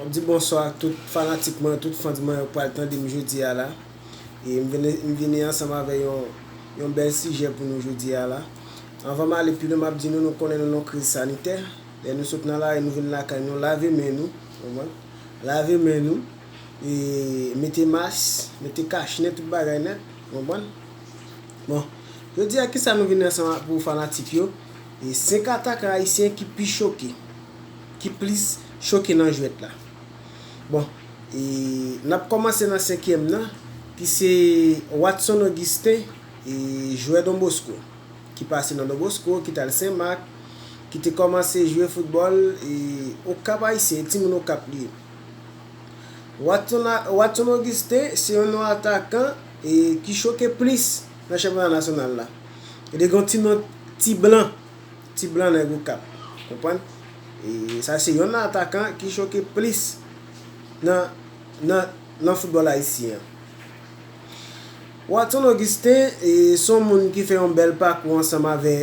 Map di bonswa ak tout fanatik mwen, tout fans mwen yo pral tande m jodi a la e m vini m vini ansanm avè yon yon bèl sijè pou nou jodi a la. Anvan m ale pi lwen map di nou nou konnen nou nan yon kriz sanitè, lè nou sot nan lari nou vin lakay nou lave men nou, ou konprann. Lave men nou, e mete mas, mete kach nen, tout bagay nèt, ou konprann? Bon, jodi a kisa nou vin ansanm ak pou fanatik yo, e 5 atakan ayisyen ki pi choke, ki plis choke nan jwèt la. Bon, e n ap kòmanse nan senkyèm nan, ki se Watson Augustin, e jwè Don Bosco. ki pase nan Donbosko, ki t al Sen Mak, ki te kòmanse jwe foutbòl e Okap Ayisyen, e timoun Okap li ye. Watson Watson Augustin se yon non atakan e ki choke plis nan chanpyona nasyonal la. E li gen yon ti non ti blan, ti blan nèg Okap. Konprann? E sa se yon nan atakan ki choke plis nan nan nan foutbòl ayisyen an. Watson Augustin se yon moun ki fè yon bèl pakou ansanm avè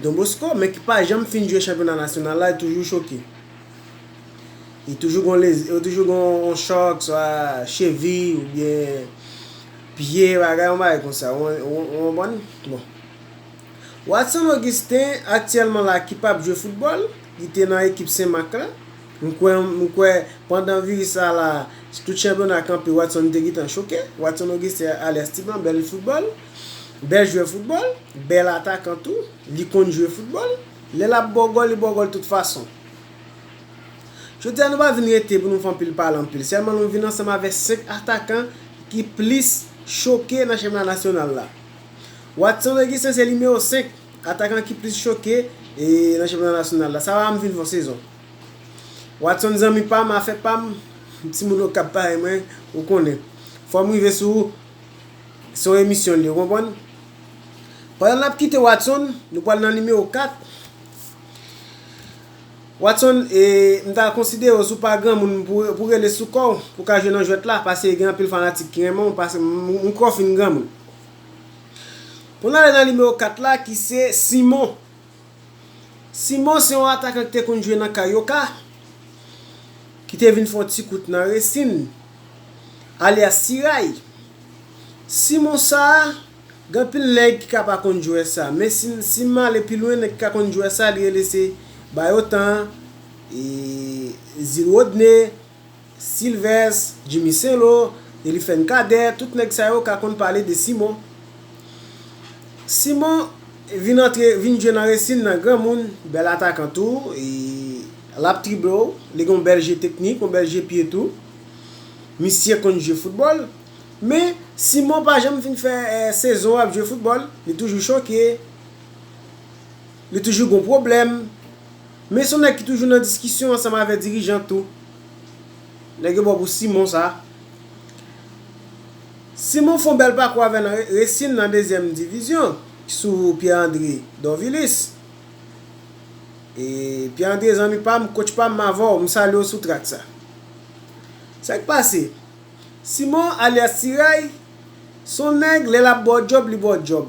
Don Bosco men ki pa janm fin jwe chanpyona nasyonal la, li toujou choke. Li toujou gon lezi, yo toujou gon yon chòk swa chevi oubyen pye bagay yon bagay konsa ou konprann bon. Watson Augustin aktyèlman la ki pap jwe foutbòl, li te nan ekip Senmak la. M kwè m kwè pandan viris sa la tout chanpyona kanpe Watson te gentan choke Watson Auguste alyas ti manbèl foutbòl bèl jwè foutbòl bèl atakan tou li konn jwe foutbòl lè lap baw gòl li baw gòl tout fason jodi a nou pa vin rete pou nou fè anpil pale anpil sèlman nou vin ansanm avè 5 atakan ki plis choke nan chanpyona nasyonal la Watson Auguste se nimewo 5. Atakan ki plis choke nan chanpyona nasyonal la. Sa va m vin fè yon sezon. Watson zanmi pa m, afè pa m, timoun Okap parèy mwen, ou konnen. Fò m rive sou ou. Se yon emisyon li, ou konprann? Pandan n ap kite Watson, nou pral nan nimewo 4. Watson, m ta konsidere w si w pa granmoun pou w rele sou kò w pou w ka jwe nan jwèt la, pase gen anpil fanatik ki renmen w, m kwè w fin granmoun. Pou n ale nan nimewo 4 la ki se Simon. Simon se yon atakan ki te konn jwe nan Carioca, ki te vin fè yon ti kout nan Racing, alyas Siray. Simon sa, gen anpil nèg ki ka pa konn jwè sa, men si m ale pi lwen nèg ki ka konn jwè sa li rele se Bayotan, Zil Rodney, Sylvès, Jimmy Sainlo, Eliphène Cadet, tout nèg sa yo ka konn pale de Simon. Simon vin antre, vin jwe nan resin nan granmoun, bèl atakan tou, l ap trible w, li gen yon bèl je teknik, yon bèl je pye tou. Misye konn jwe foutbòl. Men, Simon pa janm fin fè sezon ap jwe foutbòl. Li toujou choke. Li toujou gon pwoblèm. Men son nèg ki toujou nan diskisyon ansanm avè dirijan tou. Nèg yo ba w pou Simon sa. Simon fon bèl pakou avè nan Racing nan dezyèm divizyon sou Pierre André Dorvilis. E Pierre André zanmi pa m, coach pa m m avè w, m salye w sou trak sa. Sa k pase? Simon alyas Tiray son nèg lè l ap ba w djòb li ba w djòb.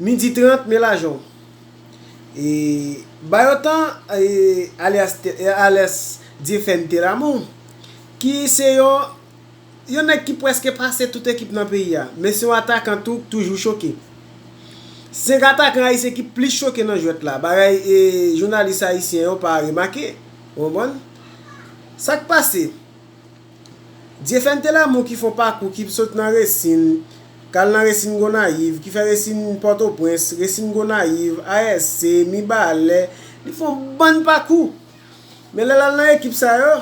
Midi 30, Me lajan w. E, ba yo tan, e, alyas tè, e, alyas dyefèn tè lamou, ki se yon, yon nèg ki prèske pase tout ekip nan peyi a, men se yon atakan tou k toujou choke. 5 atakan ayisyen ki plis choke nan jwèt la, bagay, e, jounalis ayisyen yo pa remake. Ou konprann? Sa k pase? Dyefèm Telamou ki fon pakou ki sot nan Resin, k al nan Resin Gonayiv, ki fè Resin Pòtoprens, Resin Gonayiv, ASC, Mibalè, li fè yon bann pakou. Men lè l al nan ekip sa yo,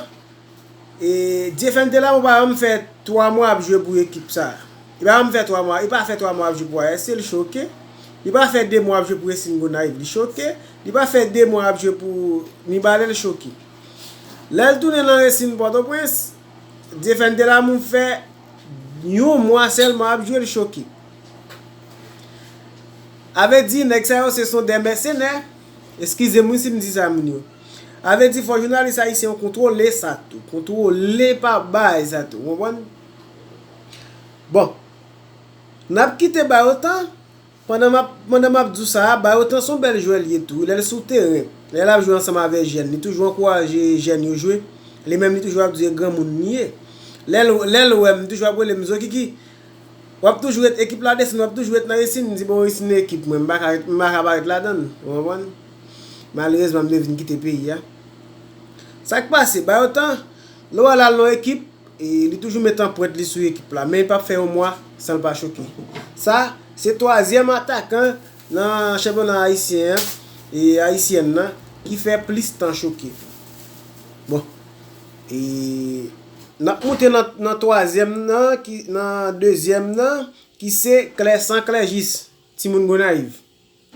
Dyefèm Telamou pa janm fè 3 mwa ap jwe pou ekip sa. Li pa janm fè 3 mwa, li pa fè 3 mwa ap jwe pou ASC, li choke. Li pa fè 2 mwa ap jwe pou Resin Gonayiv, li choke. Li pa fè 2 mwa ap jwe pou Mibalè, li choke. Lè l tounen nan resin Pòtoprens, Dyefèn Delamou fè yon mwa sèlman ap jwe l choke. A vle di nèg sa yo se son dè mèsenè, eskize m wi si m di sa moun yo. A vle di fò jounalis ayisyen yo kontwole sa tou, kontwole pa bay sa tou, ou konprann? Bon, n ap kite ba yo tan. Pandan map pandan map di w sa a, Bayotan son bèl jwè l ye tou wi lè l sou teren, lè lap jwe ansanm avè jèn, li toujou ankouraje jèn yo jwe, li menm li toujou ap di e granmoun li ye. Lè l lè l wè m li toujou ap rele m Zokiki wap toujou ret ekip la desann wap toujou ret nan Isinn, m di bon Isinn e ekip mwen m pa ka ret m pa ka pa ret ladann ou konprann. Malerezman m te vin kite peyi a. Sak pase Bayotan lè w al al nan w ekip, E li toujou met anprent li sou ekip la, men li pap fè yon mwa san l pa choke. Sa, se twazyèm atakan nan chanpyona ayisyen an, e ayisyèn nan, ki fè plis tan choke. Bon, e n ap moute nan twazyèm nan, nan dezyèm nan, ki se Klèsan Klèjis, timoun Gonayiv.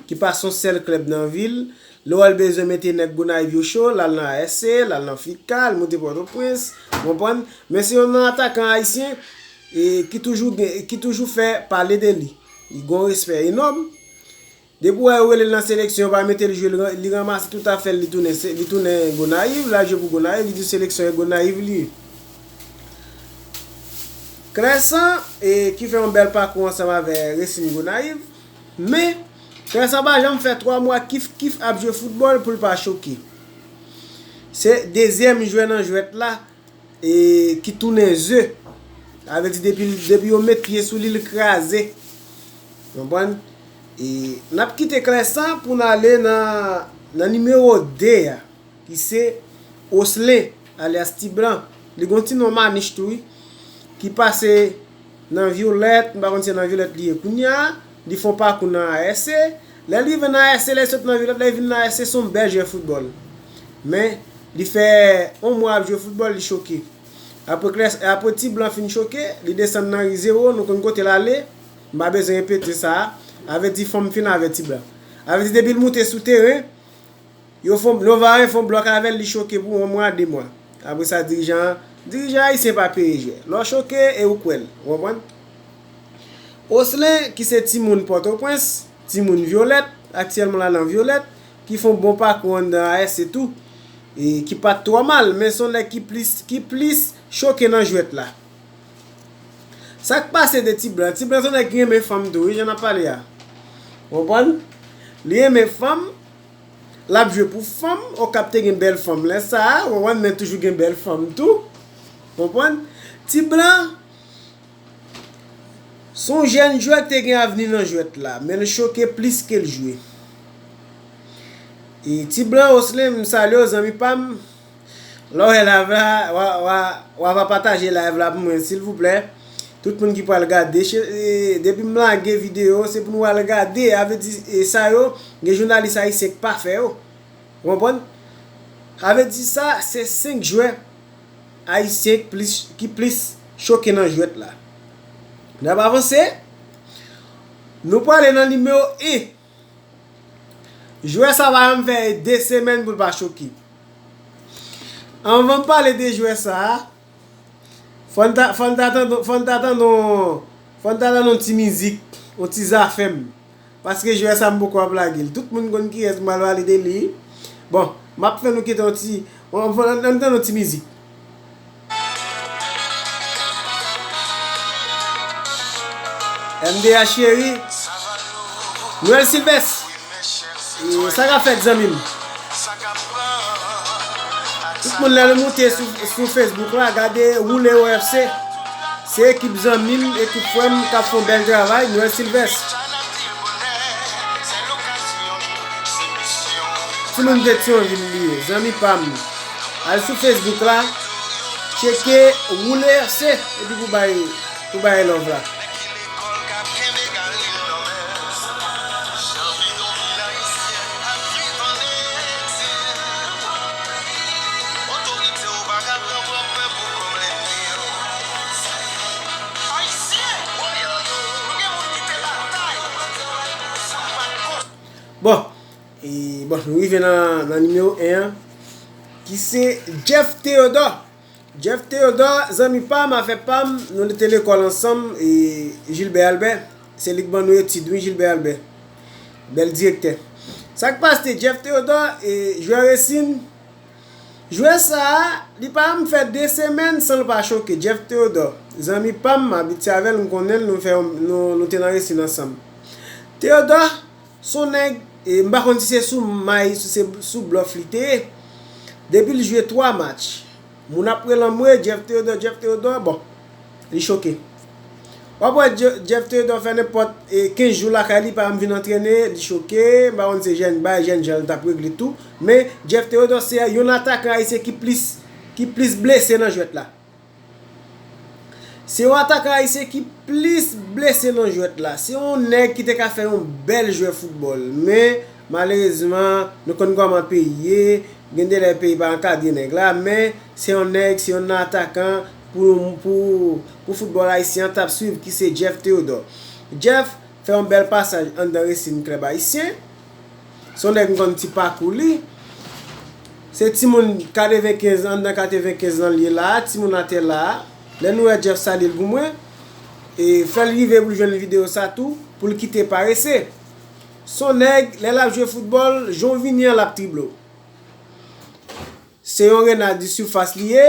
ki pa son sèl klèb nan vil, lè w al bezwen mete nèg Gonayiv yo cho, l al nan ASC, l al nan FICA, l moute Pòtoprens, ou konprann, men se yon nan atakan ayisyen ki toujou gen, ki toujou fè pale de li, li gen yon respè enòm, depi w wè yo rele l nan seleksyon yo pa mete l jwe li ranmase tout afè l li tounen, li tounen Gonayiv, l al jwe pou Gonayiv, li di seleksyon e Gonayiv li ye. Clercent, ki fè yon bèl pakou ansanm avè Racing Gonayiv. Men, frè sa pa janm fè 3 mwa kif kif ap jwe foutbòl pou l pa choke. Se dezyèm jwè nan jwèt la e ki tounen ze. Sa vle di depi yo met pye sou li l kraze. Konprann? E n ap kite kle sa pou n ale nan nimewo 2 a ki se Oslen alyas Ti Blan. Li gen yon ti non Manich tou wi ki pase Nan Violette, m pa konn si se nan Violette li ye kounya, li fon pakou nan ASC, lè l rive nan ASC, lè l sot nan Violette, lè l vin nan ASC, se yon bèl jwè foutbòl. Men, li fè yon mwa ap jwe foutbòl, li choke. Apre kles, apre Ti Blan fin choke, li desann nan ri Zewo, nou konn kote l ale, m pa bezwen repete sa, avèti fò m fin avèti blan. Avèti depi l moute sou teren, Yo fon yo varen fon blòk avèl li choke pou 1 mwa 2 mwa apresa dirijan an dirijan ayisyen pa peye jwè lè w choke e ou kwè l ou konprann Oslen ki se timoun pòtoprens timoun vyolèt aktyèlman la nan vyolèt ki fon bon pakou anndan AS se tou e ki pat twò mal men son nèg ki plis ki plis choke nan jwèt la Sak pase de ti blan ti blan son nèg ki renmen fanm tou wi jan nap pale a ou konprann li renmen fanm Lap jwe pou fanm okap te gen bèl fanm lè sa ou konprann men toujou gen bèl fanm tou konprann ti blan son jèn jwè ki te gen avni nan jwèt la menl choke plis kel jwe ti blan oslen m salye w zanmi pam. Lè w wè live la, wa va pataje live la pou mwen silvouplè. Tout moun ki pral gade, depi m lage video se pou nou al gade, a vle di sa yo gen jounalis ayisyen k pa fè yo. Ou konprann? A vle di sa se 5 jwè ayisyen k plis ki plis choke nan jwèt la. N ap avanse, nou prale nan nimewo 1. Jwè sa pa janm fè 2 semèn pou l pa choke. Anvan m pale de jwè sa, fò n ta tande yon ti mizik, yon ti zafèm. Paske jwè sa m poko ap lage l. Tout moun konn kiyès m pral pale de li. Bon, m ap fè nou kite yon ti, an n tande yon ti mizik. MDH cheri Nwèl Silvès E sa kap fèt zanmi m Tout moun lè nou moute sou Facebook la gade Woule yo FC Se ekip zanmi m, ekip frè m kap fon bèl travay Nwèl Silvès Ti moun Petyonvil li ye zanmi pa m Al sou Facebook la tcheke woule ase epi pou bay pou bay love la. Bon E bon, nou rive nan nimewo 1 an, ki se Jeff Theodore. Jeff Theodore, zanmi pa m, afè pa m, nou te lekòl ansanm, e Gilbert Albert, se li k ban nou etid wi Gilbert Albert. Bèl direktè. Sa k paste, Jeff Theodore, e jwè resin, jwè sa a, li pa janm fè 2 semèn san l pa choke. Jeff Theodore, zanmi pa m, m abitye avè l, m konnen l, nou fè yon, nou te nan resin ansanm. Theodore. Son nèg, m pa konn si se sou may si se sou blòf li te ye. Depi l jwe 3 match, moun ap rele anmwee Jeff Theodore, Jeff Theodore, bon, li choke. W ap wè Jeff Theodore fè nenpòt 15 jou lakay li pa janm vin antrene, li choke, m pa konn si se jèn bay, jèn jan l t ap regle tou, men Jeff Theodore se yon atakan ayisyen ki plis, ki plis blese nan jwèt la. Se yon atakan ayisyen ki plis blese nan jwèt la. Se yon nèg ki te ka fè yon bèl jwè foutbòl. Men, malerezman, nou konn kòman peyi ye, gen de lè peyi pa ankadre nèg la, men, se yon nèg, se yon nan atakan pou foutbòl ayisyen an t ap swiv ki se Jeff Theodore. Jeff fè yon bèl pasaj anndan Racing Club Haïtien. Se yon nèg m konn ti pakou li. Se timoun 95 an, anndan 95 lan li ye la a, timoun atè la a. Lè nou wè Jeff salye l pou mwen. E fè l rive pou l jwenn videyo sa tou, pou l kite parese. Se yon nèg, lè l ap jwe foutbòl, jan w vini an l ap trible w. Se yon rena di sifas li ye.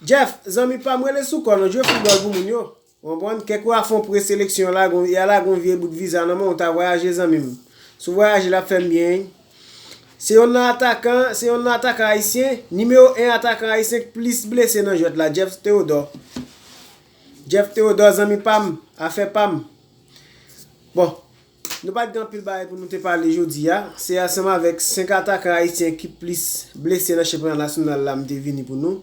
Jeff, zanmi pa m rele sou kò non, jwe foutbòl pou moun yo. Ou konprann? Kèk wa fon preseleksyon la gon, ya la gon vye bout viza nan men w ta vwayaje zanmi m. Si w vwayaje l ap fè m byen wi. Se yonn nan atakan, se yonn nan atakan ayisyen, nimewo 1 atakan ayisyen k plis blese nan jwèt la, Jeff Theodore. Jeff Theodore zanmi pa m, afè pa m. Bon, Nou pat gen anpil bagay pou nou te pale jodi a, se ansanm avèk 5 atakan ayisyen ki plis blese nan chanpyona nasyonal la m te vini pou nou.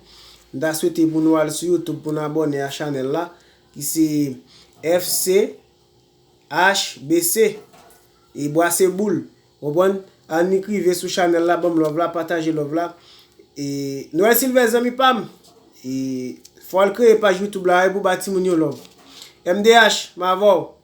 M ta swete pou nou al sou youtube pou nou abòne a chanèl la ki se FCHBC e bwase boul ou konprann annik rive sou chanèl la banm love la pataje love la e Noël Sylvest zanmi pam e fò al kreye paj youtube la wi pou ba timoun yo love MDH m avèw.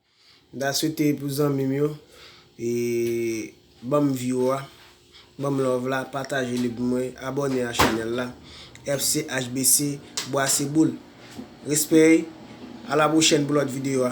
M ta swete pou zanmim yo e banm view a banm love la pataje li pou mwen abone a chanel la FCHBC bwase boul respect a la prochèn pou lòt video a.